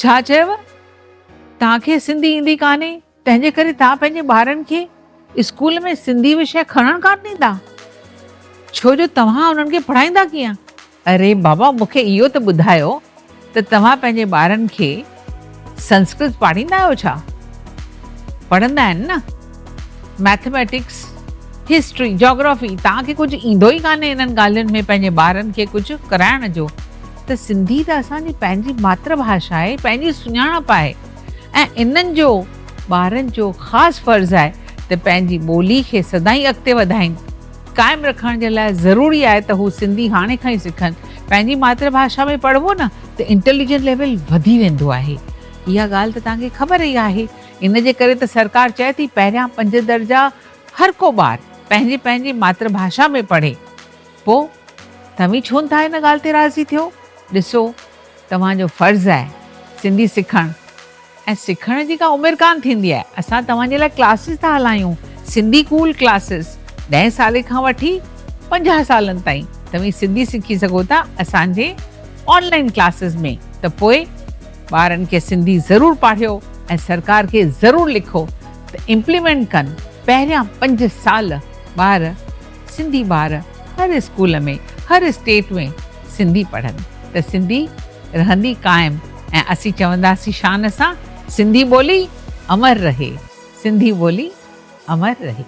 ڇا چيو؟ توهان کي سنڌي ايندي ڪانهي، تنهنجي ڪري توهان پنهنجي ٻارن کي اسڪول ۾ سنڌي وشي کڻڻ ڪانه ڏيندا، ڇو جو توهان انهن کي پڙهائيندا ڪيئن؟ اري بابا مون کي اهو ته ٻڌايو ته توهان پنهنجي ٻارن کي سنسڪرت پاڙهيندا آهيو ڇا؟ پڙهندا آهن نه. مئٿميٽڪس، هسٽري، جاگرافي توهان کي ڪجهه ايندو ئي ڪانهي انهن ڳالهين ۾ پنهنجي ٻارن کي ڪجهه ڪرائڻ جو ته سنڌي ته اسان جي پنهنجي ماتر ڀاشا آهي پنهنجي سڃاڻپ آهي ۽ انهن جو ٻارن جو خاص فرض آهي ته پنهنجي ٻولي کي سدائين اڳتي وڌائين. قائم رکڻ جي لاء ضروري آهي ته هو سنڌي هاڻي کان ئي سکن. پنهنجي ماتر ڀاشا ۾ پڙهبو نه ته انٽيليجنس ليول وڌي ويندو آهي. اها ڳالهه ته توهان کي خبر ئي آهي. ان جي ڪري ته سرڪار چئي ٿي پهريان پنج درجا هر ڪو ٻار پنهنجي پنهنجي ماتر ڀاشا ۾ پڙهي. پوء توهين ڇو نٿا ان ڳالهه تي راضي ٿيو؟ ڏسو توهان جو فرض آهي سنڌي سکڻ. ۽ سکڻ جي ڪا عمر ڪانه ٿيندي آهي اسان توهان جي لاء ڪلاسز ٿا هلايون سنڌي ڪول ڪلاسز ڏهين سالي کان وٺي پنجاهه سالن تائين توهين سنڌي سکي سگهو ٿا اسان جي آن لائين ڪلاسز ۾ ته پوء ٻارن کي سنڌي ضرور پاڙهيو ۽ سرڪار کي ضرور لکو ته امپليمينٽ ڪن پهريان پنج سال ٻار سنڌي ٻار هر اسڪول ۾ هر اسٽيٽ ۾ سنڌي پڙهن ته سنڌي رهندي قائم ۽ اسين چونداسين شان سان سنڌي ٻولي امر رهي سنڌي ٻولي امر رهي.